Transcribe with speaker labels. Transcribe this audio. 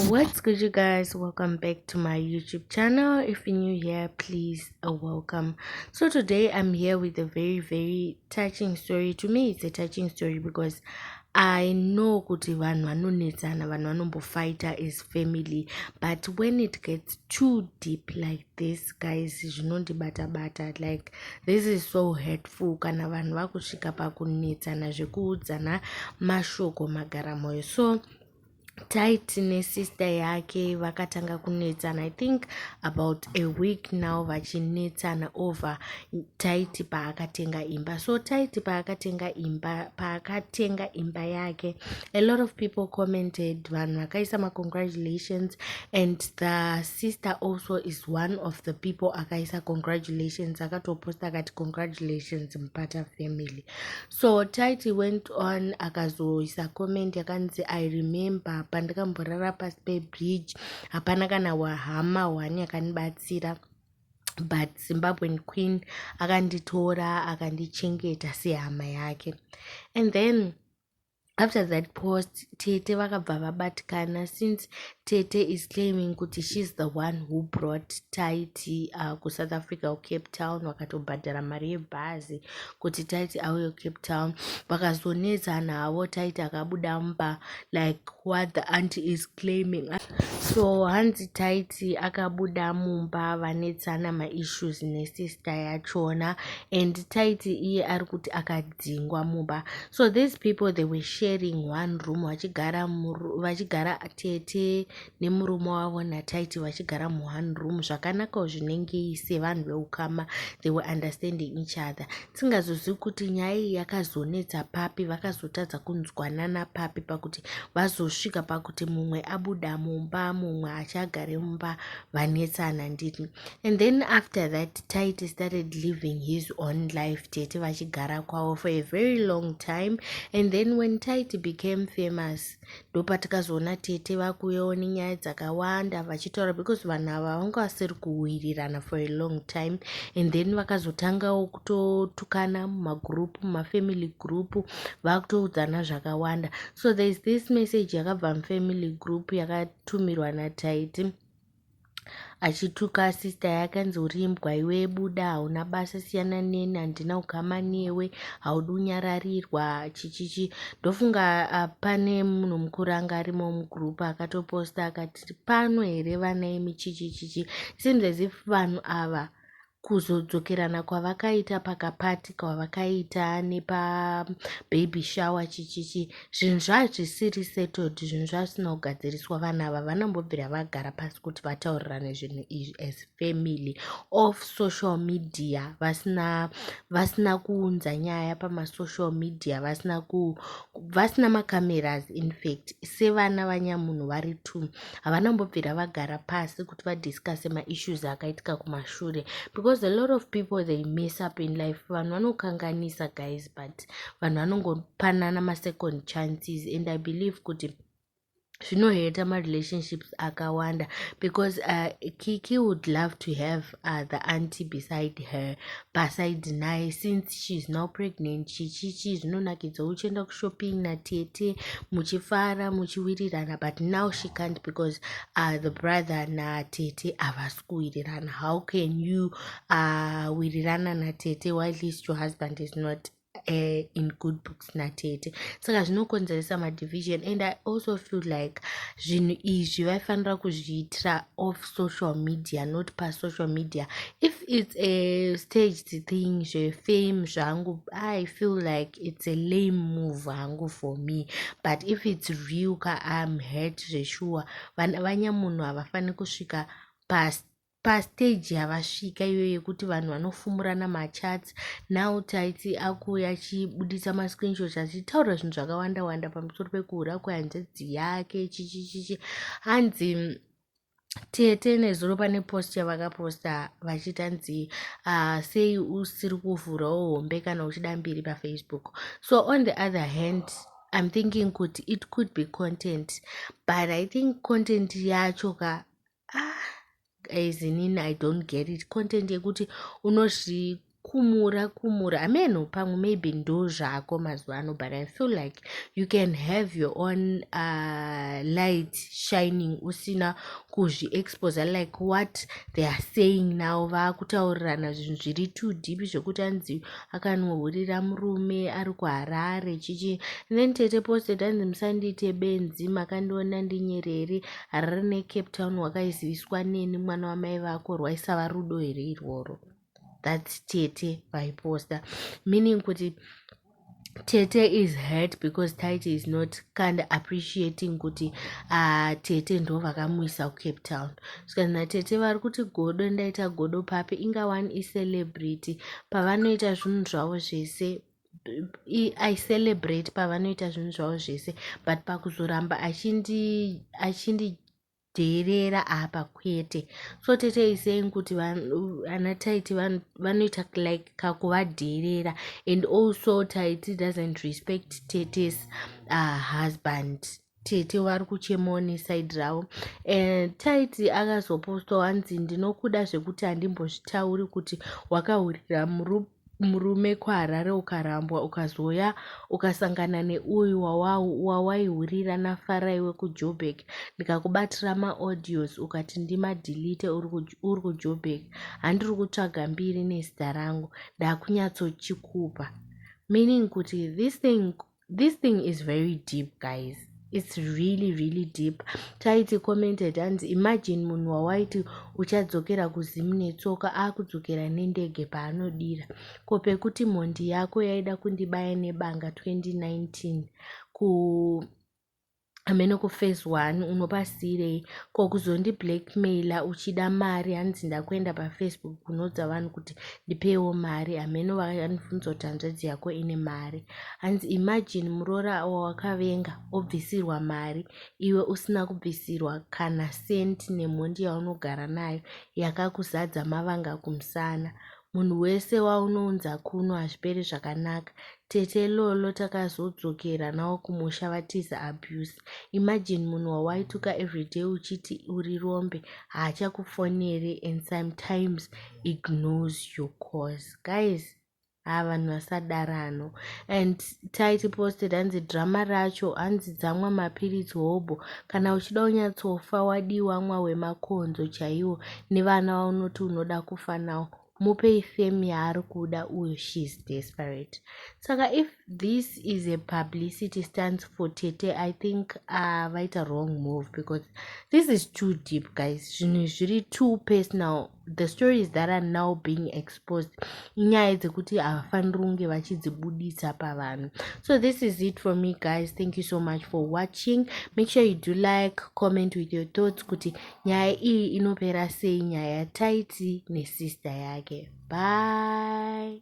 Speaker 1: what's good you guys welcome back to my youtube channel if you're new here please uh, welcome so today i'm here with a very very touching story to me it's a touching story because i know kuti vanhu vanonetsana vanhu vanombofighter as family but when it gets too deep like this guys zvinondibata bata like this is so hurtful kana vanhu vakusvika pakunetsana zvekuudzana mashoko magara moyo so taiti nesister yake vakatanga kunetsana i think about a week now vachinetsana over taiti paakatenga imba so taiti paakatenga imba paakatenga imba yake a lot of people commented vanhu vakaisa macongratulations and the sister also is one of the people akaisa congratulations akatoposta akati congratulations mupata family so titi went on akazoisa comment yakanzi i remember pandakamborara pasi pebridge hapana kana wahama one yakandibatsira but zimbabwean queen akanditora akandichengeta sehama yake and then after that post tete vakabva vabatikana since tete is claiming kuti shes the one who brought taiti uh, kusouth africa kucape town vakatobhadhara mari yebhazi kuti taiti auye kucape town vakazonetsana havo taiti akabuda mumba like what the anti is claiming so hanzi taiti akabuda mumba vanetsana maissues nesister yachona and taiti iye ari kuti akad dzingwa mumba so these people they were sharing one room vachigara vachigara tete nemurume wavo nataiti vachigara muone room zvakanakawo zvinengei sevanhu veukama they were understanding each other tisingazozivi kuti nyaya iyi yakazonetsa papi vakazotadza kunzwanana papi pakuti vazosvika pakuti mumwe abuda mumba mumwe achagare mumba vanetsana nditi and then after that Tyte started living his own life tete vachigara kwavo for a very long time and then when Tyte became famous ndopatikazoona tete vakuuyawo nenyaya dzakawanda vachitaura because vanhu ava vanga vasiri kuwirirana for a long time and then vakazotangawo kutotukana mumagroup mumafamily group vakutoudzana zvakawanda so there is this message yakabva mufamily group yakatumirwa natyte achituka sista yake anzi uri imbwa iwe buda hauna basa siyana neni handina kugama newe haudi kunyararirwa chichichi ndofunga ah, pane munhu mukuru anga arimo mugroup akatoposta akati pano here vana imi chichichichi seems as if vanhu ava kuzodzokerana kwavakaita pakapati kwavakaita nepababy shower chichichi zvinhu zvazvisiri settled zvinhu zvazvisina kugadziriswa vanhu ava vanombobvira vagara pasi kuti vataurirane zvinhu izvi as family of social media vasina vasina kuunza nyaya pamasocial media vasina ku vasina macameras infact sevana vanyamunhu vari two havana mbobvira vagara pasi kuti vadiscuse maissues akaitika kumashure because a lot of people they mess up in life vanhu vanokanganisa guys but vanhu vanongopanana masecond chances and i believe kuti zvinoheta marelationships akawanda because uh, kiki would love to have uh, the auntie beside her paside naye since sheis now pregnant chichichi zvinonakidza uchienda kushopping natete muchifara muchiwirirana but now she can't because uh, the brother natete havasi kuwirirana how can you uh, wirirana natete while least your husband is not uh, in good books natete saka zvinokonzeresa madivision and i also feel like zvinhu izvi vaifanira kuzviitira off social media not pasocial media if it's a staged thing zvefame zvangu i feel like it's a lame move hangu for me but if it's real ka im hurt zveshuwa vana vanyamunhu havafaniri kusvika past Pastage yavasvika iyo yekuti vanhu vanofumurana machats now Tytie akuuya achibuditsa mascreenshots achitaura zvinhu zvakawanda wanda pamusoro pekuhura kwehanzvadzi yake chichichichi hanzi mm, tete nezuro pane post yavakaposta vachiti hanzi uh, sei usiri kuvhurawo hombe kana uchida mbiri pafacebook so on the other hand i'm thinking kuti it could be content but i think content yacho ka ah guys inini i don't get it content yekuti unozvikumura kumura ameno pamwe maybe ndo zvako mazuva ano but i feel like you can have your own uh, light shining usina kuzviexposa like what they are saying now vaakutaurirana zvinhu zviri too deep zvekuti anzi akanohurira murume ari kuharare chichi then tete posted anzi musandiite benzi makandiona ndinyereri Harare neCape Town wakaiziviswa neni mwana wamai vako rwaisava rudo here irworo that's tete vaiposta meaning kuti tete is hurt because tite is not kind appreciating kuti uh, tete ndo vakamuisa kucape town zvikanzi natete vari kuti godo ndaita godo papi inga one icelebrity pavanoita zvinhu zvavo zvese i celebrate pavanoita zvinhu zvavo zvese but pakuzoramba achindidheerera apa kwete so tete isaying kuti ana taiti vanoita like kakuvadheerera and also taiti doesn't respect tetes uh, husband tete vari kuchemawo nesaidi ravo eh, taiti akazopostwa wanzi ndinokuda zvekuti handimbozvitauri kuti wakahurira murume kuharare ukarambwa ukazouya ukasangana neuyu wawaihurira nafarai wekujoburg ndikakubatira maaudios ukati ndimadilite uri kujoburg handiri kutsvaga mbiri nezita rangu ndakunyatsochikupa meaning kuti this thing this thing is very deep guys its really really deep taiti commented hanzi imagine munhu wawaiti uchadzokera kuzimu netsoka akudzokera nendege paanodira ko pekuti mhondi yako yaida kundibaya nebanga 2019 ku amene kuphase one unopasiirei ko kuzondi blackmailer uchida mari hanzi ndakuenda pafacebook kunoudza vanhu kuti ndipeiwo mari hameno vanibvunza kuti hanzvadzi yako ine mari hanzi imagine muroora wawakavenga obvisirwa mari iwe usina kubvisirwa kana sent nemhondi yaunogara nayo yakakuzadza mavanga kumusana Munhu wese waunounza kuno hazviperi zvakanaka. Tete Lolo takazodzokera nawo kumusha vatiza abuse. Imagine munhu wawaituka everyday uchiti uri rombe haachakufonere and sometimes ignores your calls. Guys, haa vanhu vasadarano and tight posted hanzi drama racho hanzi dzamwa mapiritsi hobho kana uchida unyatsofa wadii wamwa wemakonzo chaiwo nevana vaunoti unoda kufa nawo mupei fame yaari kuda uyo she is desperate saka if this is a publicity stands for tete i think uh, vaita wrong move because this is too deep guys zvinhu zviri too personal the stories that are now being exposed inyaya dzekuti havafaniri kunge vachidzibuditsa pavanhu so this is it for me guys thank you so much for watching make sure you do like comment with your thoughts kuti nyaya iyi inopera sei nyaya yataiti nesister yake bye